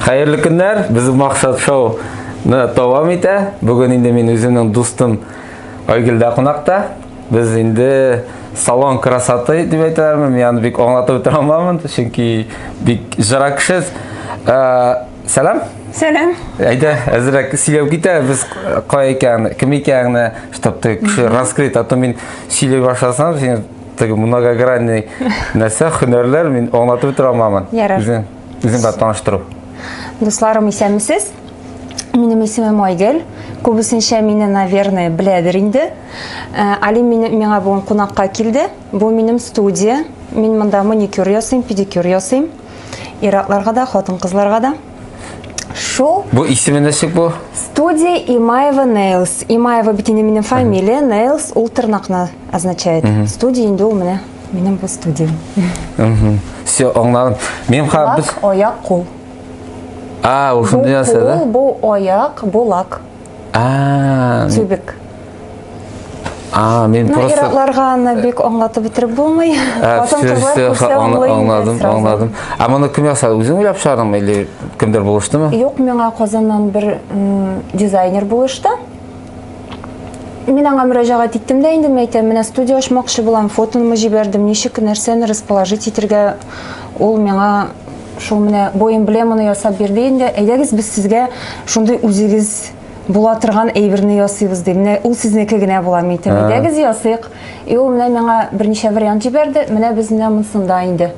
Хәерле көннәр, без Максат шоу ны дәвам итә. Бүген инде мин үземнең дустым Айгөлдә кунакта. Без инде салон красоты дип әйтәләрме, мин аны бик аңлатып бетерә алмамын, чөнки бик жыра кеше. Ә, Сәлам. Сәлам. Әйдә, әзрәк сөйләп китә, без кая икән, кем икәнне, чтобы ты кеше раскрыт, а то мин сөйли башласам, син теге многогранный нәрсә, һөнәрләр мин аңлатып бетерә алмамын. Ярар. Үзең Үзең белән таныштыру. Дусларым исәнмесез. Минем исемем Айгөл. Күбесенчә мине, наверное, беләдер инде. Э, Алим мине, миңа бүгін кунакка килде. Бу минем студия. Мин монда маникюр ясыйм, педикюр ясыйм. Иратларга да, хатын кызларга да. Шул. Бу исеме ничек бу? Студия Имаева Nails. Имаева бит инде минем фамилия, Nails ул тырнакны означает. Студия инде ул менә. Минем бу студия. Все, аңладым. Минем хәзер без Лак, аяк, кул. А, Бу ушундай нәрсә да? кул, бу аяк, бу лак, А, тюбик. а, мен Ну, просто иратларга аны бик аңлатып бетереп булмый. А, Хатын все, кызлар все, күрсә аңла- аңлый инде аңладым, сразу. аңладым. А моны кем ясады? Үзең уйлап чыгардыңмы или кемдер булыштымы? Юк, миңа Казаннан бер м, дизайнер булышты. Мин аңа мөрәҗәгать иттем дә инде, мәйтәм, менә студия ачмакчы булам, фотоны җибәрдем, ничек нәрсәне расположить итергә, ул миңа шул менә бу эмблеманы ясап бирде инде. Әйдәгез без сезгә шундый үзегез була торган әйберне ясыйбыз ди. Менә ул сезнеке генә була, мәйтәм, ә. әйдәгез ясыйк. И ул менә миңа берничә вариант җибәрде, менә без менә монсында инде.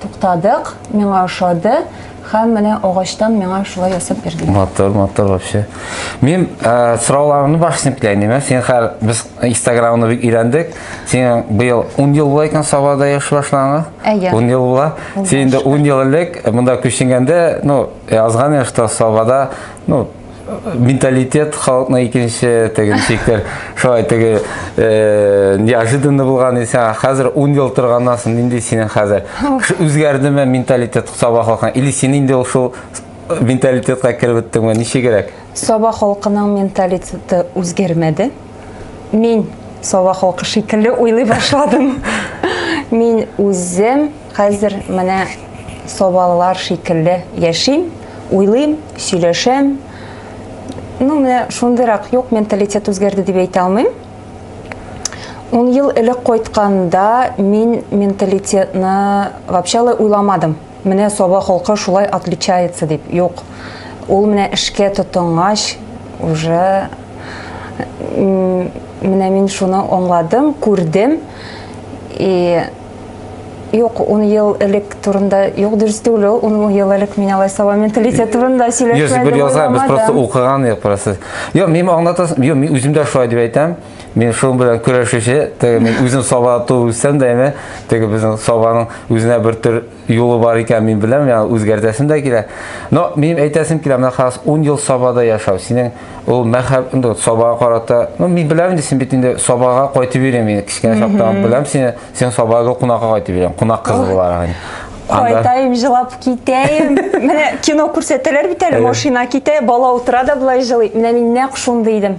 Туктадык, миңа ошады. Хәм менә агачтан миңа шулай ясап бирде. Матур, матур вообще. Мин э, сорауларымны башын белән әмә, сен хәл без Инстаграмны бик өйрәндек. Син быел 10 ел була икән Сабада яши башлаган. 10 ел була. Син инде 10 ел элек монда күченгәндә, ну, язган яшьтә Сабада, ну, менталитет халыкның икенче теге ничектер шулай теге э, неожиданно булган исән хәзер ун ел торганнан соң нинди синең хәзер үзгәрдеме менталитет саба халкың или син инде ул шул менталитетка кереп беттеңме ничегрәк саба халкының менталитеты үзгәрмәде мин Сова халкы шикелле уйлый башладым. Мин үзем хәзер менә Совалылар шикелле яшим, уйлыйм, сөйләшәм. Ну, менә шундыйрак юк менталитет үзгәрде дип әйтә алмыйм. Ун ел элек кайтканда мин менталитетны вообще уйламадым. Менә Саба холкы шулай отличается дип, юк. Ул менә эшкә тотынгач, уже менә мин шуны аңладым, күрдем. И Юк, ун ел элек турында, юк, дөрес түгел ул, ун ел элек мин алай саба менталитет турында сөйләшмәдем. Юк, бер яза, без просто укыган, юк, просто. Юк, мин аңлатасым, юк, мин үзем дә шулай дип әйтәм. Мин шуның белән көрәшүче, теге мин үзем саба туып үссәм дә, әмә теге безнең сабаның үзенә бер төр юлы бар икән, мин беләм, яна үзгәртәсем дә килә. Но мин әйтәсем килә, менә хас 10 ел сабада яшәү, синең ул мәхәб, инде сабага карата, ну мин беләм инде син бит инде сабага кайтып йөрим, мин кичкә чактан беләм сине, син сабага кунакка кайтып йөрим, кунак кыз буларак. Кайтайым, җылап китәем. Менә кино күрсәтәләр бит әле, машина китә, бала утыра да болай җылый. Менә мин нәкъ шундый идем.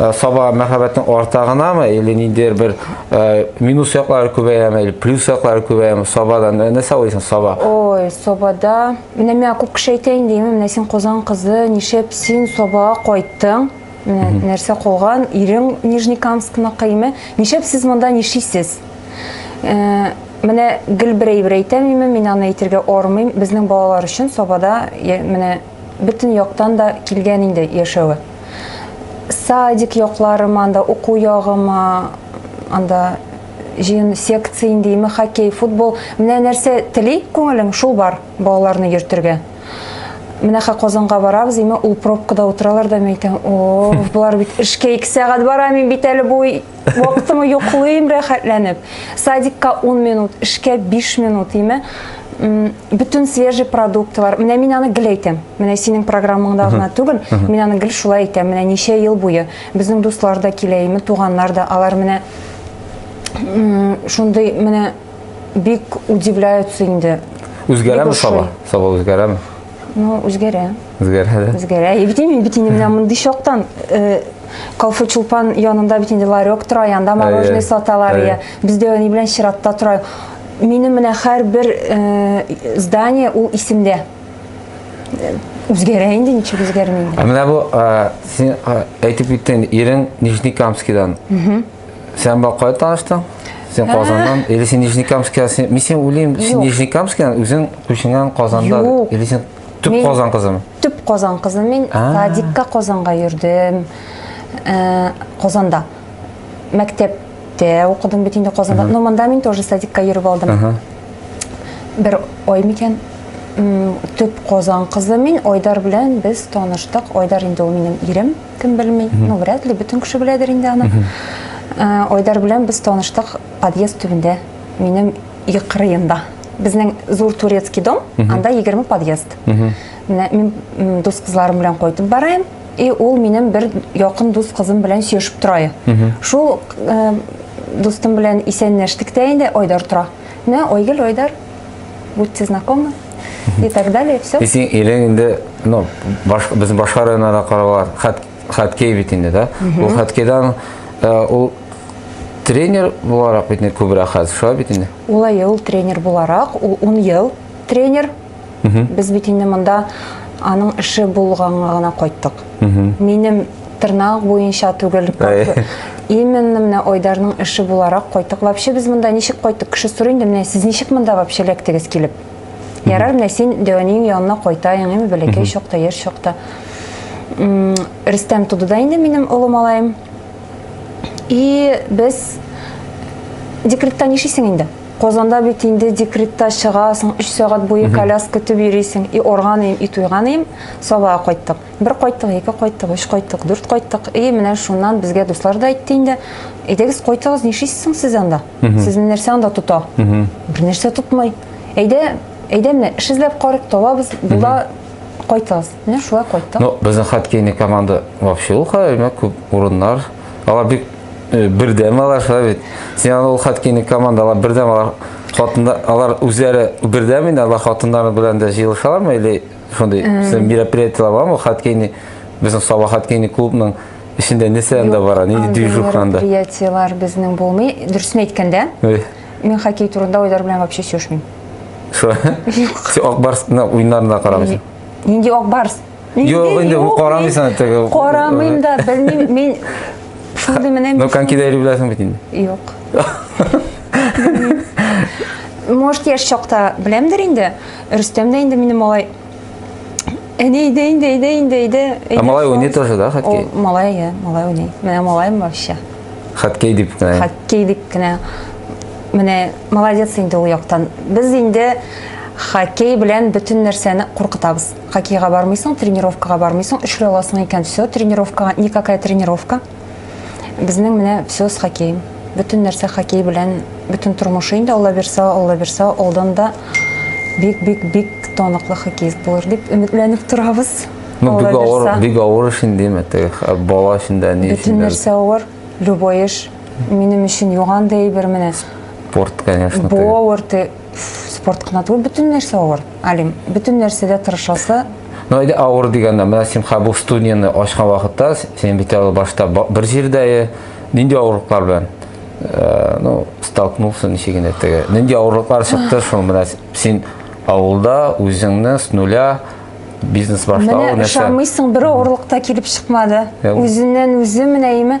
Э, саба мәхәббәтнең арта гынамы или ниндидер бер э, минус яклары күбәяме или плюс яклары күбәяме сабадан э, нәрсә уйлыйсың саба ой сабада менә миңа күп кеше әйтә инде имин менә син казан кызы нишәп син сабага кайттың менә нәрсә калган ирең нижнекамскыныкы име нишәп сез монда нишисез менә гел бер әйбер әйтәм име мин аны әйтергә ормыйм безнең балалар өчен сабада менә бөтен яктан да килгән инде яшәве. Садик якларым, анда уку ягым, анда җыен секция индеме, хоккей, футбол. Менә нәрсә тели күңелең, шул бар балаларны йөртергә. Менә хә Казанга барабыз, име ул пробкада утыралар да мәйтәм, о, болар бит эшкә ике сәгать бара, мин бит әле бу Вакытымы йоклыйм рәхәтләнеп. Садикка 10 минут, эшкә 5 минут, име? Бүтін свежий продукты бар. Менә мин аны гел әйтәм. Менә синең программаңда гына түгел, мин аны гел шулай әйтәм. Менә ничә ел буе безнең дуслар да килә, име, туганнар да. Алар менә шундый менә бик удивляются инде. Үзгәрәме саба? Саба үзгәрәме? Ну, үзгәрә. Үзгәрә дә. Үзгәрә. И бит инде бит инде менә мондый чактан э, кофе чулпан янында бит инде ларек тора, янда мороженое Әйе. саталар. Әйе. Я. Бездә ни белән чиратта тора. Минем менә һәрбер э, здание ул исемдә. Э, Үзгәрә инде ничек үзгәрми. Ә менә бу э, син э, әйтеп киттең, ирең Нижнекамскидан. Сән бала кая таныштың? Сен Казаннан, или сен Нижнекамская, сен, мин сен уйлыйм, сен Юк. Нижнекамская, үзең күченгән Казанда, Юк. или сен төп Мин- Казан кызымы? Төп Казан кызы мин. А. Садикка Казанга йөрдем. Э, Казанда. Мәктәптә укыдым бит инде Казанда. Но монда мин тоже садикка йөреп алдым. Ага. Бер ай микән? М, Төп Казан кызы мин. Айдар белән без таныштык. Айдар инде ул минем ирем. Кем белми, ну, вряд ли, бөтен кеше беләдер инде аны. Айдар белән без таныштык подъезд төбендә, минем йөк кырыенда. Безнең зур турецкий дом, анда 20 подъезд. Менә мин дус кызларым белән кайтып бараем, и ул минем бер якын дус кызым белән сөешеп торайы. Шул дустым белән исәнләштек тә инде, Айдар тора. Менә Айгөл, Айдар, будьте знакомы и так далее, все. И син илең инде, ну, баш, без башка районнарда каралган, хат, хаткей бит инде, да? Ул хаткейдан, э, ул тренер буларак бит инде күбрәк хәзер, шулай бит инде? Улай ел тренер буларак, ул 10 ел тренер. Без бит инде монда аның эше булганга гына кайттык. Минем тырнак буенча түгел. Именно менә Айдарның эше буларак кайттык. Вообще без монда ничек кайттык? Кеше сорый инде, менә сез ничек монда вообще эләктегез килеп? Ярар, менә син Дәвәнең янына кайтаең, әме бәләкәй чакта, яшь чакта. Рөстәм туды да инде минем олы малаем. И без декретта нишисең инде? Казанда бит инде декретта чыгасың, 3 сәгать буе коляска көтеп йөрисең. И органыйм, и туйганыйм, Сабага кайттык. Бер кайттык, ике кайттык, өч кайттык, дүрт кайттык. И, менә шуннан безгә дуслар да әйтте инде. Әйдәгез, кайтыгыз, нишлисез соң сез анда? Сезне нәрсә анда тота? Бер нәрсә тотмый. Әйдә, әйдә менә эш эзләп карыйк, табабыз, була, кайтыгыз. Менә шулай кайттык. Ну, безнең хоккейный команда вообще ул хәлмә күп урыннар. Алар бик э, бердәм алар шулай бит. Син аны ул хоккейный команда алар бердәм алар хатында алар үзләре бердәм инде алар хатыннары белән дә җыелышалармы или шундый син мероприятиелар бармы хаткейни безнең саба хаткейни клубның эчендә нәрсә анда бара нинди движуха анда мероприятиелар безнең булмый дөресен әйткәндә мин хоккей турында уйлар белән вообще сөйләшмим шо син ак барсны уеннарына карамыйсың нинди ак барс Юк, инде карамыйсың теге. Карамыйм да, белмим, мин шундый менә. Ну, конькида йөри беләсең бит инде. Юк. Может, яшь чакта беләмдер инде. Рөстәм дә инде минем малай. Әне иде, инде, иде, инде, иде. Ә малай уйный тоже, да, хоккей? О, малай, я, малай уйный. Менә малайым вообще. Хоккей дип кенә. Хоккей дип кенә. Менә молодец инде ул яктан. Без инде хоккей белән бөтен нәрсәне куркытабыз. Хоккейга бармыйсың, тренировкага бармыйсың, эшли аласың икән, все, тренировкага, никакая тренировка. Безнең менә все с хоккеем. Бөтен нәрсә хоккей белән, бөтен тормышы инде Алла бирсә, Алла бирсә, алдан да бик бик бик тоныклы хоккеист булыр дип өметләнеп торабыз. Ну, бик авыр, бик авыр эш инде, мәтәк, бала өчен дә, ни өчен дә. Бөтен нәрсә авыр, любой эш. Минем өчен юган да әйбер менә. Спорт, конечно. Бу авыр, Спорт кына түгел, бөтен нәрсә авыр. Алим, бөтен нәрсәдә тырышасы. Ну, әйдә авыр дигәндә, менә син хәбу студияне ачкан вакытта, син бит әле башта бер җирдә, э, нинди авырлыклар белән э, ну, столкнулся ничек инде теге. Нинди авырлыклар чыкты шул менә син авылда үзеңне с нуля бизнес башлау нәрсә? Менә ышанмыйсың, бер авырлыкта килеп чыкмады. Үзеннән үзе менә име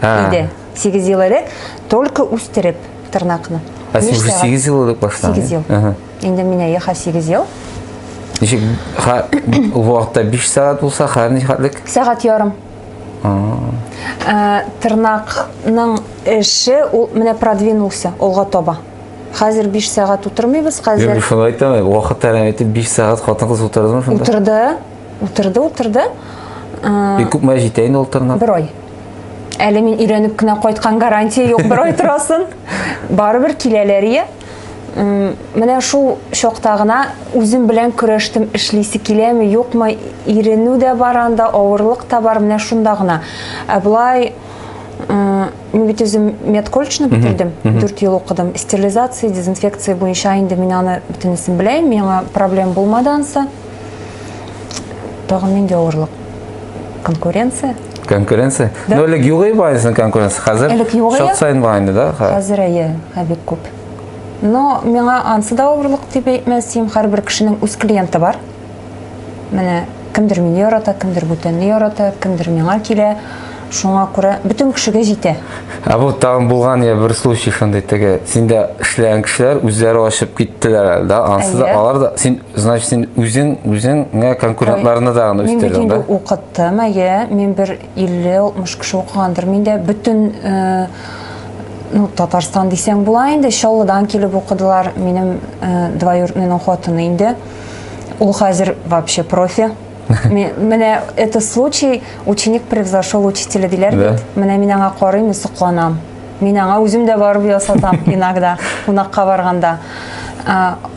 Иде. 8 ел элек только үстереп тырнакны. Ә син уже 8 ел элек башлады. 8 ел. Инде менә яха 8 ел. Ничек ха вакытта 5 сәгать булса, хәзер ничәлек? Сәгать ярым. Э, тырнакның эше ул менә продвинулся алга таба. Хәзер 5 сәгать утырмыйбыз, хәзер. Юк, шулай әйтәм, вакыт тәрән итеп 5 сәгать хатын-кыз утырдымы шунда? Утырды. Утырды, утырды. Ә... Күп мәҗ итә инде ул тырнак. Бер ай. Әле мин өйрәнеп кенә кайткан гарантия юк, бер ай торасын. Барыбер киләләр ие. Менә шул чакта гына үзем белән көрәштем, эшлисе киләме, юкмы, иренү дә бар анда, авырлык та бар, менә шунда гына. Ә былай мин бит үзем медколледжны бетердем, 4 ел укыдым. Стерилизация, дезинфекция буенча инде мин аны бөтенесен беләм, миңа проблем булмады ансы. Тагын нинди авырлык? Конкуренция? Конкуренция? Да. Ну, элек югый бар инде конкуренция. Хәзер элек югый. Шат сайын бар инде, да? Хәзер әйе, ә бик күп. Но миңа ансы да авырлык дип әйтмәсем, һәрбер кешенең үз клиенты бар. Менә кемдер мине ярата, кемдер бүтәнне ярата, кемдер миңа килә. Шуңа күрә бөтен кешегә җитә. Ә бу тагын булган я бер случай шундый теге. Синдә эшләгән кешеләр үзләре ашып киттеләр, да? Ансы да алар да син Значит, син үзең үзеңә конкурентларны да аны үстердең, да? Мин бит укыттым, әйе. Мин бер 50-60 кеше укыгандыр. Мин дә бөтен э, ну, Татарстан дисәң була инде, Чаллыдан килеп укыдылар. Минем э, двоюродныйның хатыны инде. Ул хәзер вообще профи. Менә это случай, ученик превзошел учителя диләр бит. Менә мин аңа карыйм, сокланам. Мин аңа үзем дә барып ясатам иногда, кунакка барганда.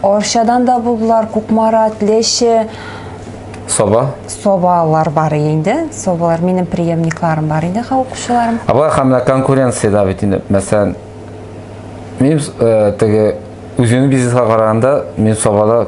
Арчадан да булдылар, Кукмарат, Леше. Соба? Собалар бар инде. Собалар минем преемникларым бар инде, ха укучыларым. Абай һәм менә конкуренция да бит инде. Мәсәлән, мин э, теге үземнең бизнеска караганда, мин собада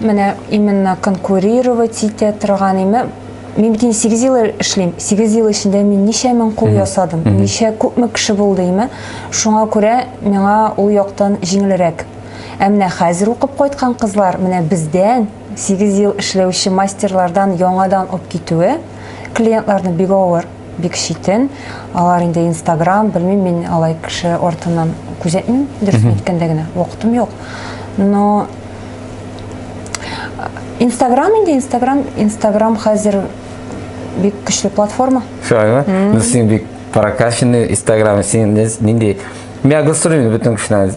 Менә именно конкурировать итә торган име. Мин бит 8 ел эшлим. 8 ел эчендә мин ничә мең кул ясадым, ничә күпме кеше булды име. Шуңа күрә миңа ул яктан җиңелрәк. Ә менә хәзер укып кайткан кызлар менә бездән 8 ел эшләүче мастерлардан яңадан ук китүе клиентларны бик авыр. бик читен. Алар инде Инстаграм, белмим, мин алай кеше артыннан күзәтмим, дөрес әйткәндә генә, вакытым юк. Но Инстаграм инде Инстаграм, Инстаграм хәзер бик көчле платформа. Шулаймы? Ну син бик прокачанный Инстаграм, син нинди? Мин агрессирую бөтен кешедән.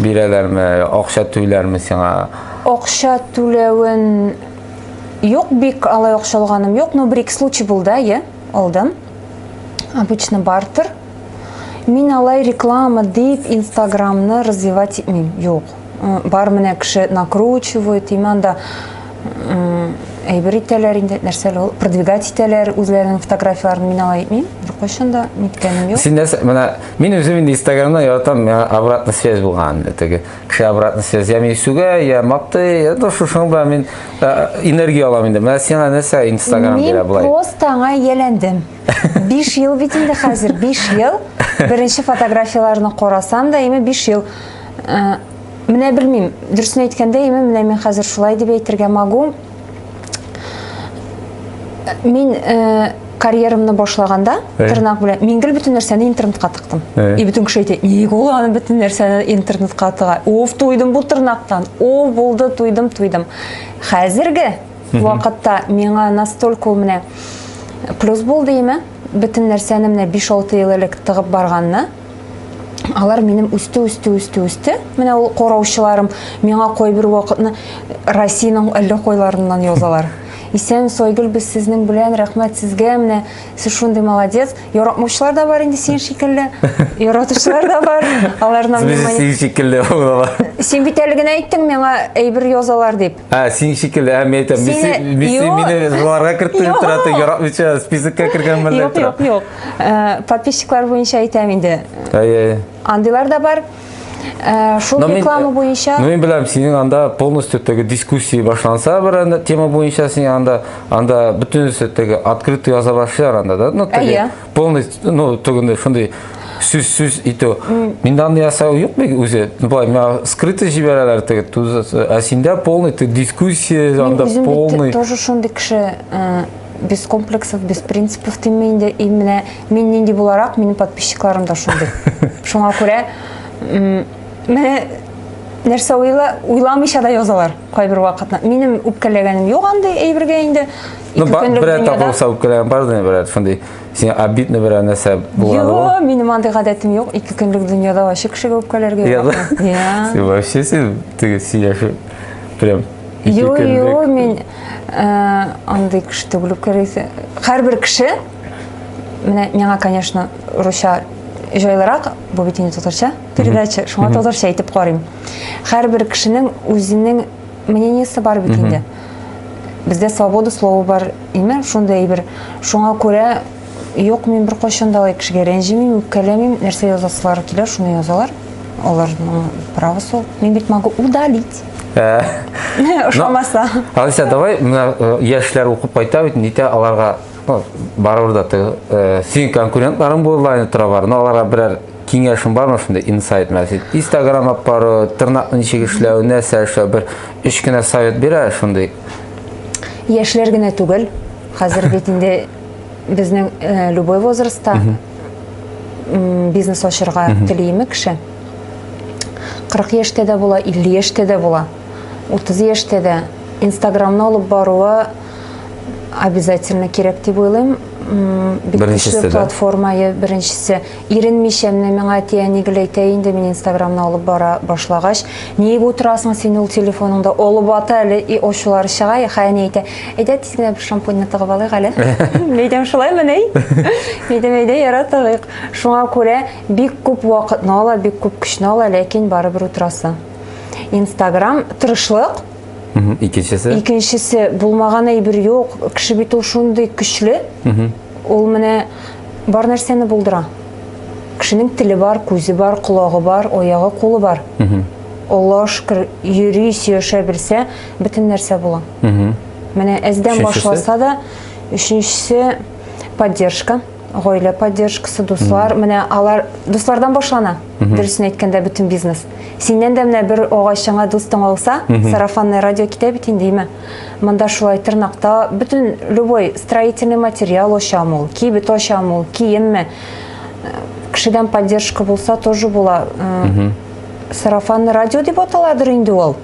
бирәләрме, акча түләрме сиңа? Акча түләвен юк, бик алай акча алганым юк, но бер-ике случай булды, әйе, алдым. Обычно бартер. Мин алай реклама дип Инстаграмны развивать итмим, юк. Бар менә кеше накручивает, иман да әйбер итәләр инде нәрсә ул продвигать итәләр үзләренең фотографияләрен мин алай итмим беркайчан да ниткәнем юк син нәрсә менә мин үзем инде инстаграмда яратам миңа обратная связь булган теге кеше обратная связь я мин сүгә я мактый это шушың белән мин энергия алам инде менә сиңа нәрсә инстаграм бирә болай мин просто аңа ияләндем биш ел бит инде хәзер биш ел беренче фотографияләрне карасам да ими биш ел Менә белмим, дөресен әйткәндә, яме менә мин хәзер шулай дип әйтергә магу. Мин э, карьерамны башлаганда, э? тырнак белән, мин гел бөтен нәрсәне интернетка тыктым. Э? И бөтен кеше әйтә, ник ул аны бөтен нәрсәне интернетка тыга? Уф, туйдым бу тырнактан. О, булды, туйдым, туйдым. Хәзерге вакытта миңа настолько ул менә плюс булды име? Бөтен нәрсәне менә 5-6 ел элек тыгып барганны, алар минем үсте үсте үсте үсте менә ул караучыларым миңа кайбер вакытны россиянең әллә кайларыннан язалар исән сойгүл без сезнең белән рәхмәт сезгә менә сез шундый молодец яратмаучылар да бар инде син шикелле яратучылар да бар аларның син шикелле син бит әле генә әйттең миңа әйбер язалар дип Ә, син шикелле, ә, мен әйтәм, Мисси, Сине- Мисси Юк. мине жыларга кертте дип тора, ты яратмыйча списокка кергәнмен дип Юк, тора. юк, юк. Э, Подписчиклар буенча әйтәм инде. Әй, әй. Андыйлар да бар. Э, Шул Но мин- реклама буенча Но мин беләм, синең анда полностью теге дискуссия башланса бер анда тема буенча син анда анда бөтенесе теге открытый яза башлар анда да. Ну, теге, Әйе. полный ну түгенде шундый сүз сүз итү мин аны ясау юк бит үзе былай миңа скрытый җибәрәләр теге ә синдә полный ты дискуссия анда полный тоже шундый кеше э, без комплексов без принципов димме инде и менә мин нинди буларак минем подписчикларым да шундый шуңа күрә менә нәрсә уйла уйламыйча да язалар кайбер вакытта минем үпкәләгәнем юк андый әйбергә инде Ну, берәр тапыл савып килә, бардыр берәр фундый. Син обидно берәр нәрсә булган. Юк, минем андый гадәтем юк. Ике көнлек дөньяда ачык кеше булып калергә. Яда. Я. Син вообще син теге сөйләшү прям Юк, юк, мин э, андый кеше түгел булып калыйсы. Һәрбер кеше менә миңа, конечно, русча җайлырак, бу бит инде татарча передача, шуңа татарча әйтеп карыйм. Һәрбер кешенең үзенең мнениесе бар бит инде бездә свобода слова бар именно шундай әйбер шуңа күрә юк мин беркайчан да алай кешегә рәнҗемим үпкәләмим нәрсә язасылары килә шуны язалар олардың правосы ул мин бит могу удалить э, ошамаса алиса давай мына э, яшьләр укып кайта бит нитә аларга барыбер да э, синең конкурентларың булырлар тора бар но аларга берәр киңәшем бармы шундай инсайт мәсәл инстаграм алып бару тырнакны ничек эшләү нәрсә эшләү бер өч кенә совет бирә шундый яшьләр генә түгел хәзер бит инде безнең э, любой возрастта бизнес ачырга телиме кеше 40 яшьтә дә була 50 яшьтә дә була 30 яшьтә дә инстаграмны алып баруы обязательно кирәк дип уйлыйм бик көчле платформа беренчесе Иренмичә менә миңа әти-әни гел әйтә инде, мин инстаграмны алып бара башлагач, ниеп утырасың син ул телефоныңда, олып ата әле, и ачулары чыга, яха әни әйтә, әйдә тиз генә бер шампуньны тыгып алыйк әле. Мин әйтәм, шулаймы нәй? Мин әйтәм, әйдә яра тыгыйк. Шуңа күрә бик күп вакытны ала, бик күп көчне ала, ләкин барыбер утырасы. Инстаграм, тырышлык. Икенчесе? Икенчесе, булмаган әйбер юк, кеше бит ул шундый көчле. Ул менә бар нәрсәне булдыра. Кешенең теле бар, күзе бар, колагы бар, оягы, кулы бар. Аллаһ шүкер, йөри, сөяшә белсә, бөтен нәрсә була. Менә әздән башласа да, өченчесе поддержка, гаилә поддержкасы, дуслар. Менә алар дуслардан башлана. Дөресен әйткәндә, бөтен бизнес. Синнән дә менә бер агачыңа дустың алса, сарафанное радио китә бит инде, име? Монда шулай тырнакта бөтен любой строительный материал очам ул, кибет очам ул, киемме. Кешедән поддержка булса тоже була. Э, сарафанный радио дип аталадыр инде ул.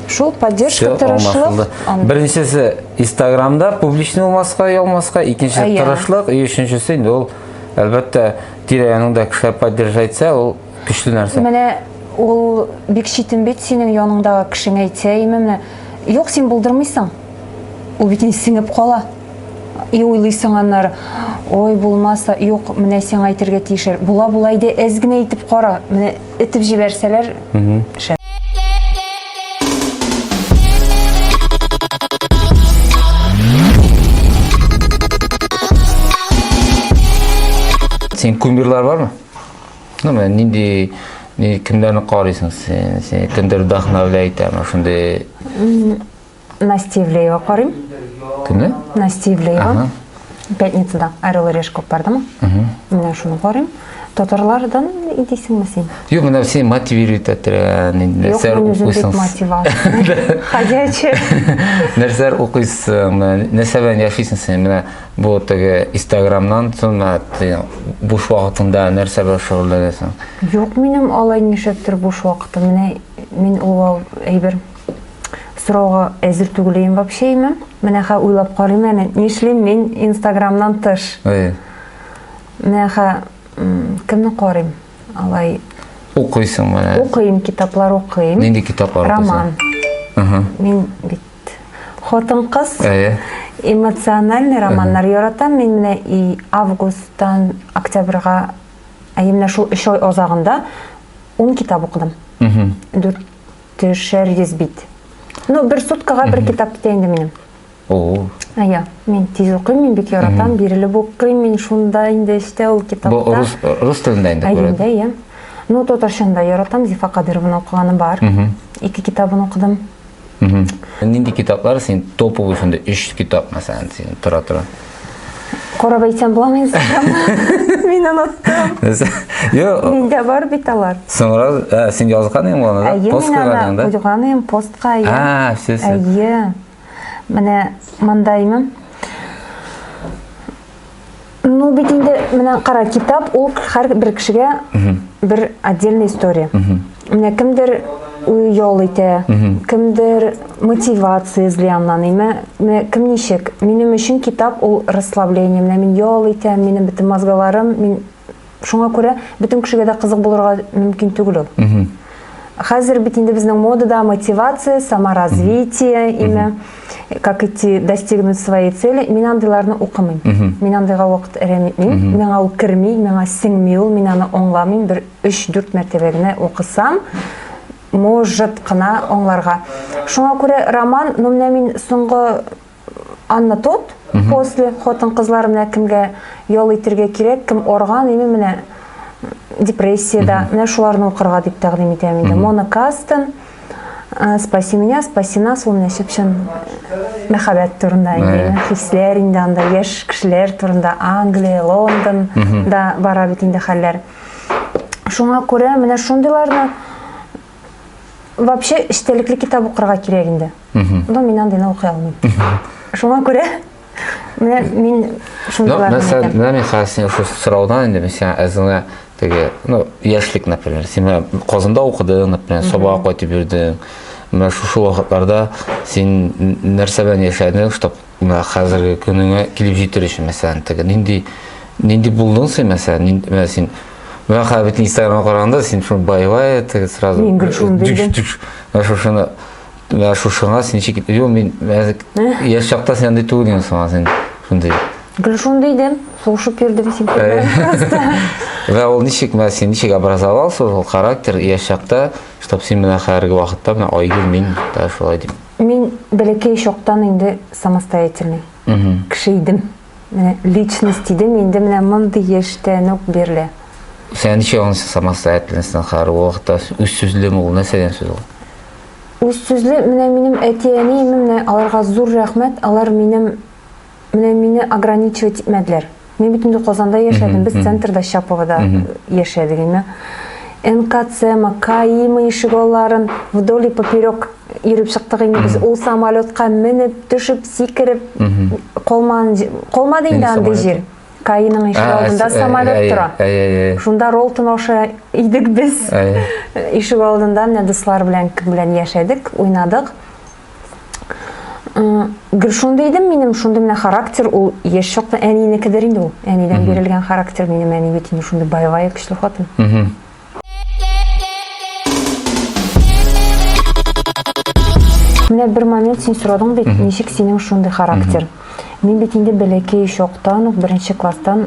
Шул поддержка тырышлык. Беренчесе Инстаграмда публичный булмаска, ялмаска, икенчесе тырышлык, өченчесе инде ул әлбәттә тирә-яныңда кешеләр поддержать итсә, ул Көчле нәрсә. Менә ул бик читен бит синең яныңдагы кешеңә әйтсә, име менә. Юк, син булдырмыйсың. Ул бит сеңеп кала. И уйлыйсың аннары, ой, булмаса, юк, менә сиңа әйтергә тиешер. Була, була иде, әз генә итеп кара. Менә итеп җибәрсәләр, шәп. Синең кумирлар бармы? Ну, мен нинди ни кемнәрне карыйсың син? Син кемдер вдохновляй итәме шундый? Настя Ивлеева карыйм. Кемне? Настя Ивлеева. Ага. Пятницада Орел и Решка бардымы? Менә шуны карыйм. Татарлардан идисеңме син? Юк, менә син мотивирует иттерә, нинди Юк, нәрсәләр мин үзем бик укыйсың? мотивация. Ходячая. Нәрсәләр укыйсың? Менә Нәрсә белән яшисең син? Менә Бу теге Инстаграмнан цена буш вакытыңда нәрсә белән шөгыльләнәсең? Юк, минем алай нишләптер буш вакытым. Менә мин ул әйбер сорауга әзер түгел идем вообще имем. Менә хә уйлап карыйм әле, нишлим мин Инстаграмнан тыш? Әй. Менә хә кемне карыйм? Алай укыйсың менә. Укыйм, китаплар укыйм. Нинди китаплар укыйсың? Роман. Мин бит Хатын-кыз. Әйе. Эмоциональный романнар яратам мин менә и августтан октябрьга, әйе менә шул 3 ай азагында 10 китап укыдым. Мм. Дүрт төшәр йөз бит. Ну, бер суткага бер китап китә инде минем. О. Әйе, мин тиз укыйм, мин бик яратам, бирелеп укыйм, мин шунда инде эчтә ул китапта. Бу рус рус телендә инде күрәм. Әйе, әйе. Ну, татарчаны да яратам, Зифа Кадырованы укыганым бар. Ике китабын укыдым. Нинди китаплар син топовый шунда 3 китап мәсәлән син тора тора. Карап әйтсәм буламы инстаграмны? Мин оныттым. Йо. Миндә бар бит алар. Соңра син язган идең моны да? Пост куйган да? Куйган идем постка. А, все все. Әйе. Менә монда имем. Ну бит инде менә кара китап ул һәр бер кешегә бер отдельная история. Менә кемдер ял итә, кемдер мотивация эзли аннан. Менә кем ничек? Минем өчен китап ул расслабление. Менә мин ял итәм, минем бөтен мозгаларым, мин Шуңа күрә бөтен кешегә дә кызык булырга мөмкин түгел ул. Хәзер бит инде безнең модада мотивация, саморазвитие, имя, как идти достигнуть своей цели. Мин андыйларны укымыйм. Мин андыйга вакыт әрәм итмим. Миңа ул керми, миңа сеңми ул, мин аны аңламыйм. Бер 3-4 мәртәбә генә укысам, может кына аңларга. Шуңа күрә роман, ну менә мин соңгы Анна тот, после, хотын кызлар менә кемгә ял итергә кирәк, кем орган, име менә депрессиядә, менә шуларны укырга дип тәкъдим итәм инде. Мона Кастен, э, спаси меня, спаси нас, ул менә чып-чын мәхәббәт турында инде, хисләр инде анда, яшь кешеләр турында, Англия, Лондон да бара бит инде хәлләр. Шуңа күрә менә шундыйларны вообще эчтәлекле китап укырга кирәк инде но мин андыйны укый алмыйм шуңа күрә менә мин шундыйларны мәсәлән менә мин хәзер синең шул сораудан инде мин сиңа әзеңә теге ну яшьлек например син менә казанда укыдың например сабага кайтып йөрдең менә шушы вакытларда син нәрсә белән яшәдең чтобы Менә хәзерге көнеңә килеп җитер өчен, мәсәлән, теге нинди нинди булдың син, мәсәлән, нинди менә син Менә хәзер бит Инстаграмга караганда син шуны байлай, теге сразу. Мин гел шуны дидем. Менә шушыны менә шушыңа син ничек Юк, мин яшь чакта син андый түгел идең соң, син шундый. Гел шуны дидем, сулышып йөрдем син просто. Вә ул ничек менә син ничек образовался ул характер яшь чакта, чтобы син менә хәзерге вакытта менә Айгөл мин да шулай дип. Мин бәләкәй чактан инде самостоятельный кеше идем. Менә личность идем, инде менә мондый яшьтән үк бирле. Сән ничә ул самостоятельностьтан хәр вакытта үз сүзле ул нәрсәдән сүз ул? Үз сүзле менә минем әти-әнием менә аларга зур рәхмәт, алар минем Менә мине ограничивать итмәделәр. Мин бит инде Казанда яшәдем, без центрда, Чаповода яшәдек инде. НКЦМа, КАИма ишек алларын вдоль и поперек йөреп чыктык инде без. Ул самолетка менеп, төшеп, сикереп калман калмады инде андый җир. Каиның ишек алдында самолет тора. Шунда Ролтон аша идек без. Ишек алдында менә дуслар белән кем белән яшәдек, уйнадык. Гел шундый идем минем, шундый менә характер, ул яшь чакта әнинекедер инде ул. Әнидән бирелгән характер минем әни бит инде шундый боевая көчле хатын. Менә бер момент син сорадың бит, ничек синең шундый характер? Мин бит инде бәләкәй чактан ук, беренче класстан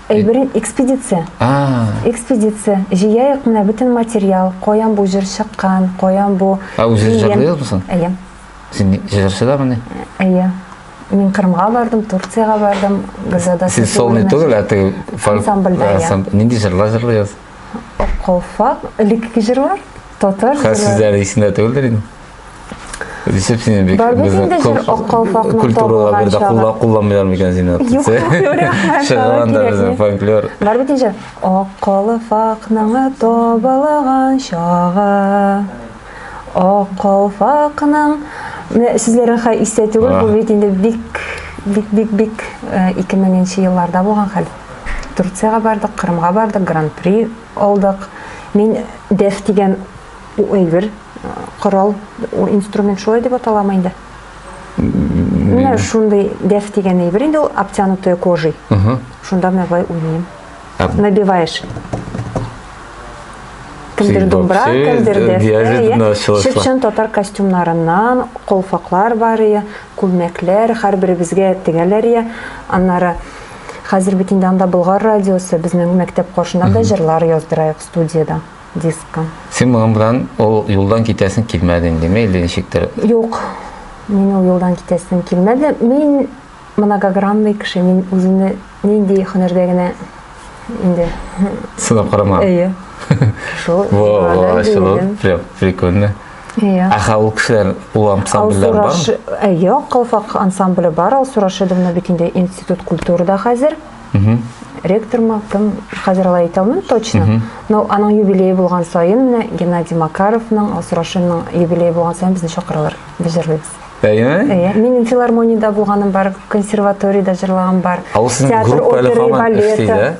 Әйберен экспедиция. А. Экспедиция. Җыяек менә бөтен материал, каян бу җыр чыккан, каян бу. Ә үзе җырлый мисың? Әйе. Син җырчы да мени? Әйе. Мин Кырымга бардым, Турцияга бардым, Газада. Сез солный түгел, ә теге ансамбльдә. Нинди җырлар җырлыйсыз? Аккалфак, элекке җырлар, татар җырлары. Хәзер сезләр исендә түгелдер инде. Дисеп сине бик культуралар бирде, кулла кулламыйлар микән сине? Юк, чыган да безнең фольклор. Бар бит инде. Ак калфакның табалаган чагы. Ак калфакның менә сезләр аха истә түгел, бу бит инде бик бик бик бик 2000 елларда булган хәл. Турциягә бардык, Кырымга бардык, гран-при алдык. Мин дәф дигән әйбер, корал, инструмент шулай дип аталамы инде? Менә шундый дәф дигән әйбер инде ул обтянутая кожей. Шунда менә болай уйныйм. Набиваешь. Кемдер думбра, кемдер дәфтә. Чып-чын татар костюмнарыннан колфаклар бар, күлмәкләр, һәрберебезгә тегәләр. Аннары Хәзер бит инде анда Болгар радиосы, безнең мәктәп каршында да җырлар яздырайык студияда, дискка. Син моның белән ул юлдан китәсең килмәде инде, мәйле ничектер. Юк, мин ул юлдан китәсем килмәде. Мин многогранный кеше, мин үземне нинди һөнәрдә генә инде сынап карама. Әйе. Шул. Во, во, прикольно. Иә. Ә хәл ул кешеләр ул ансамбльләр бар? Ә юк, Калфак ансамбле бар. Алсу Рашидовна бит инде институт культурада хәзер. Ректор ма, кем хәзер алай әйтә алмыйм точно. Но аның юбилее булган саен менә Геннадий Макаровның, Алсу Рашидовның юбилее булган саен безне чакыралар. Без җырлыйбыз. Әйеме? Әйе. Минем филармониядә булганым бар, консерваториядә җырлаган бар. Театр оперы балеты.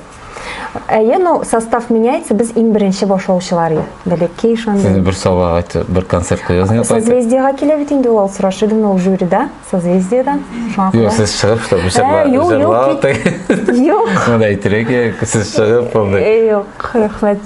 Әйе, но состав меняется, без иң беренче башлаучылар ия. Бәләкәй шундый. Сез бер сова айтып, бер концерт куясыңыз. Созвездиега килә бит инде ул сорашы идем ул жюрида, созвездиеда. Шуңа күрә. Юк, сез чыгып шулай бишәкләр. Юк, юк. Юк. Монда әйтергә, сез чыгып, монда. Юк, рәхмәт.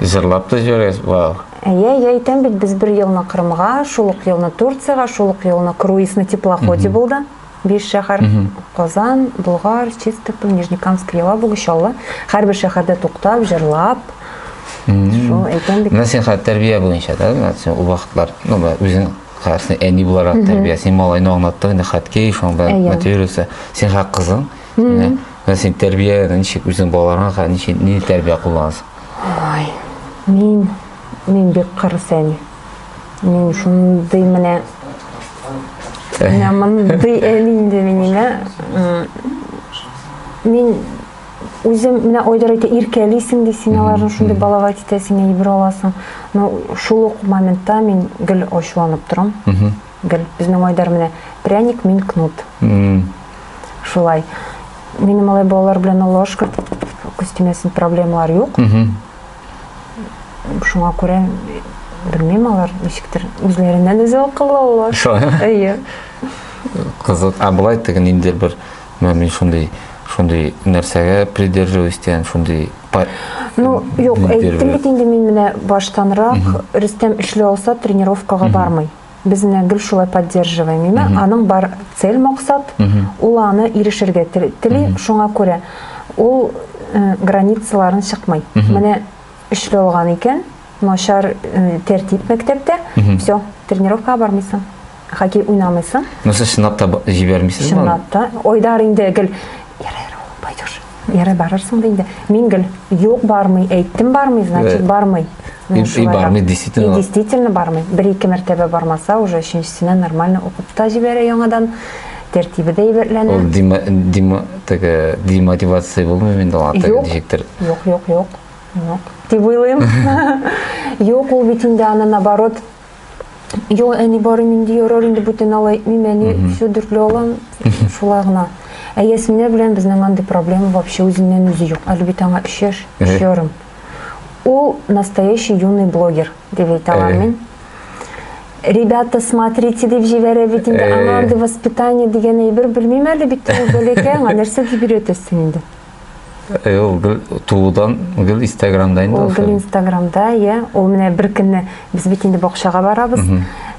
Җырлап та җибәргәч, вау. Әйе, әйе, әйтәм бит, без бер елны Кырымга, шул ук елны Турциягә, шул ук елны круиз на теплоходе булды. Биш шәһәр, Казан, Болгар, Чистополь, Нижнекамск, Елабуга, Чаллы. Һәрбер шәһәрдә туктап, җырлап. Шул әйтәм бит. Менә син хәзер тәрбия буенча, да? Менә син ул вакытлар, ну, үзең карасаң, әни буларак тәрбия. Син малайны аңлаттың, инде хат кей, шуның белән мотивируешься. Син хәзер кызың. Ә син тәрбия ничек үзең балаларыңа ничек ни тәрбия кулланасың? Ай, мин мин бик кырыс әни. Мин шундый менә менә мондый әни инде мине. Мин үзем менә Айдар әйтә, иркәлисең ди, син аларны шундый балават итәсең, әйбер аласың. Но шул ук моментта мин гел ачуланып торам. Гел безнең Айдар менә пряник, мин кнут. Шулай. Минем алай балалар белән Аллаһу шөкер күз тимәсен проблемалар юк. Шуңа күрә белмим алар ничектер үзләреннән үзе акыллы алла әйе кызык а былай теге ниндидер бер мин шундый шундый нәрсәгә придерживаюсь дигән шундый ну юк әйттем бит инде мин менә баштанрак рөстәм эшли алса тренировкага бармый без менә гел шулай поддерживаем имя аның бар цель максат ул аны ирешергә тели шуңа күрә ул э, границаларын чыкмый менә өчле алган икән начар э, тәртип мәктәптә все тренировкага бармыйсың хоккей уйнамыйсың нәрсә чынлап та җибәрмисез чынлап та айдар инде гел пойдешь Ярый барырсың да инде. Мин гел юк бармый, әйттем бармый, значит э, бармый. И, и бармый действительно. И действительно бармый. Бер ике мәртәбә бармаса уже өченчесенә нормально укып та җибәрә яңадан. Тәртибе дә әйбәтләнә. Ул дима дима теге демотивация булмый инде ул атак дижектер. Юк, юк, юк. Юк. Дип уйлыйм. Юк, ул бит инде аны наоборот Йо, әни барым инде ярар инде бүтән ала әйтмим, әни все дүртле алам, шулай гына. Ә Ясминә белән безнең андый проблема вообще үзеннән үзе юк. Әле бит аңа өч яшь, өч ярым. Ул настоящий юный блогер дип әйтә алам мин. Ребята, смотрите дип җибәрә бит инде. Аңа андый воспитание дигән әйбер белмим әле бит ул бәләкәй аңа нәрсә дип өйрәтәсең инде. Э, ул гел туудан гел инстаграмда инде ул гел инстаграмда иә ул менә бер көнне без бит инде бакчага барабыз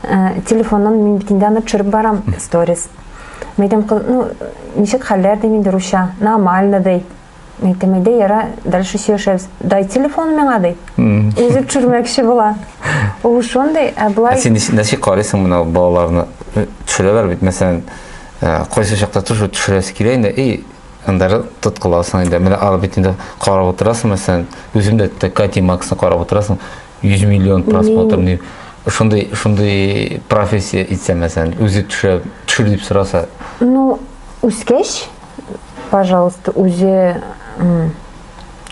э, телефоннан мин бит инде аны төшереп барам сторис мен айтам ну ничек хәлләр дим инде русча нормально ди мен айтам әйдә яра дальше сөйләшәбез дай телефон миңа ди үзе төшермәкче була ул шундый ә былай ә син ничек карыйсың менә балаларны э, төшерәләр бит мәсәлән кайсы чакта төшерәсе килә инде и Андары тоткыласың инде. Менә алып бит инде карап утырасың, мәсәлән, үзем дә Кати Максны карап утырасың, 100 миллион просмотр ни. Шундый шундый профессия итсә мәсәлән, үзе төшә, төшер дип сораса. Ну, үскәч, пожалуйста, үзе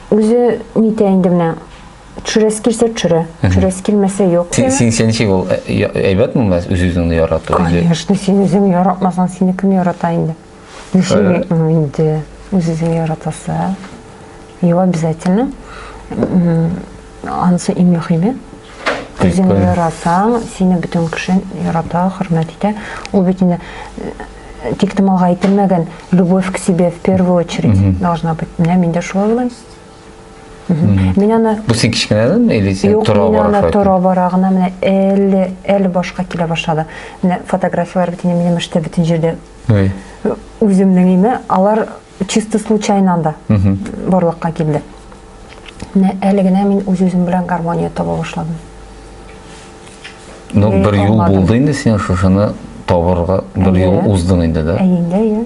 үзе нитә инде менә төшерәсе килсә төшерә, төшерәсе килмәсә юк. Син син ничек ул әйбәтме мәс үз-үзеңне ярату? Конечно, син үзең яратмасаң, сине кем ярата инде? Ничек инде үзегезне яратасы? Его обязательно. Анысы иң мөһиме. Үзеңне яратсаң, сине бөтен кеше ярата, хөрмәт итә. Ул бит инде э, тик томалга әйтелмәгән любовь к себе в первую очередь должна быть. Менә мин дә шулай уйлыйм. Мин аны Бу син кичкенәдән или син Юк, тора бара? Юк, мин аны тора бара гына менә әле әле башка килә башлады. Менә фотографияләр бит инде минем эштә бөтен җирдә Ой. Үземнең име, алар чисто случайно анда барлыкка килде. Менә әле генә мин үз-үзем белән гармония таба башладым. Ну, бер юл булды инде сиңа шушыны табарга, бер юл уздың инде, да? Әйе, әйе.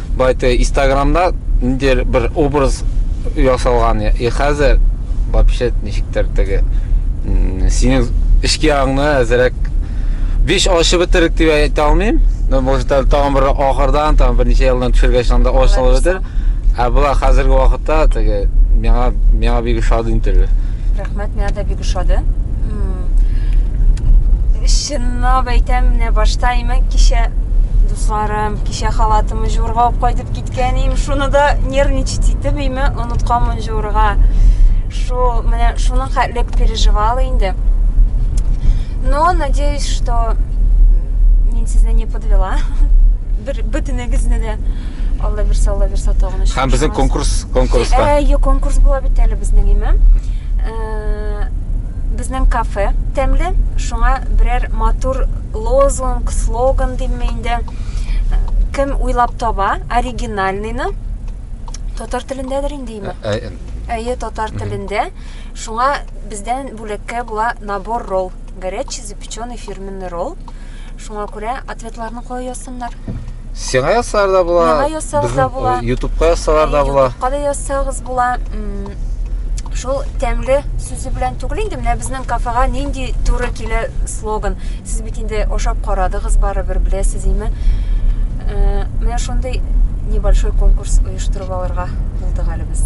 Байтэ истаграмда ниндидер бер образ ясалган и хәзер вообще ничектер теге синең эчке ягыңны әзерәк биш ачып бетердек дип әйтә алмыйм но может әле тагын бер ахырдан тагын берничә елдан төшергәч анда ачылып бетер ә болай хәзерге вакытта теге миңа миңа бик ошады интервью рәхмәт миңа да бик ошады чынлап әйтәм менә башта имән кичә дуслар Кичә халатымы җуырга алып кайтып киткән ием. Шуны да нервничать итеп име онытканмын җуырга. Шул менә шуның хәтлек переживала инде. Но надеюсь, что мин сезне не подвела. Бер бөтенегезне дә Алла бирсә, Алла бирсә тагын өчен. Һәм безнең конкурс конкурска. Э, е, конкурс була бит әле безнең име. Э, безнең кафе тәмле, шуңа берәр матур лозунг, слоган димме инде, кем уйлап таба оригинальныйны, татар телендәдер инде име? Ә, ә, Әйе, татар телендә. Шуңа бездән бүләккә була набор ролл. Горячий запеченный фирменный ролл. Шуңа күрә ответларны кая Сыннар. Сиңа ясар да була. Миңа ясар да була. Ютубка ясар да була. Ютубка да ясагыз була. Шул тәмле сүзе белән түгел инде менә безнең кафега нинди туры килә слоган. Сез бит инде ашап карадыгыз барыбер беләсез име? Э, менә шундый небольшой конкурс оештырып алырга булдык әле без.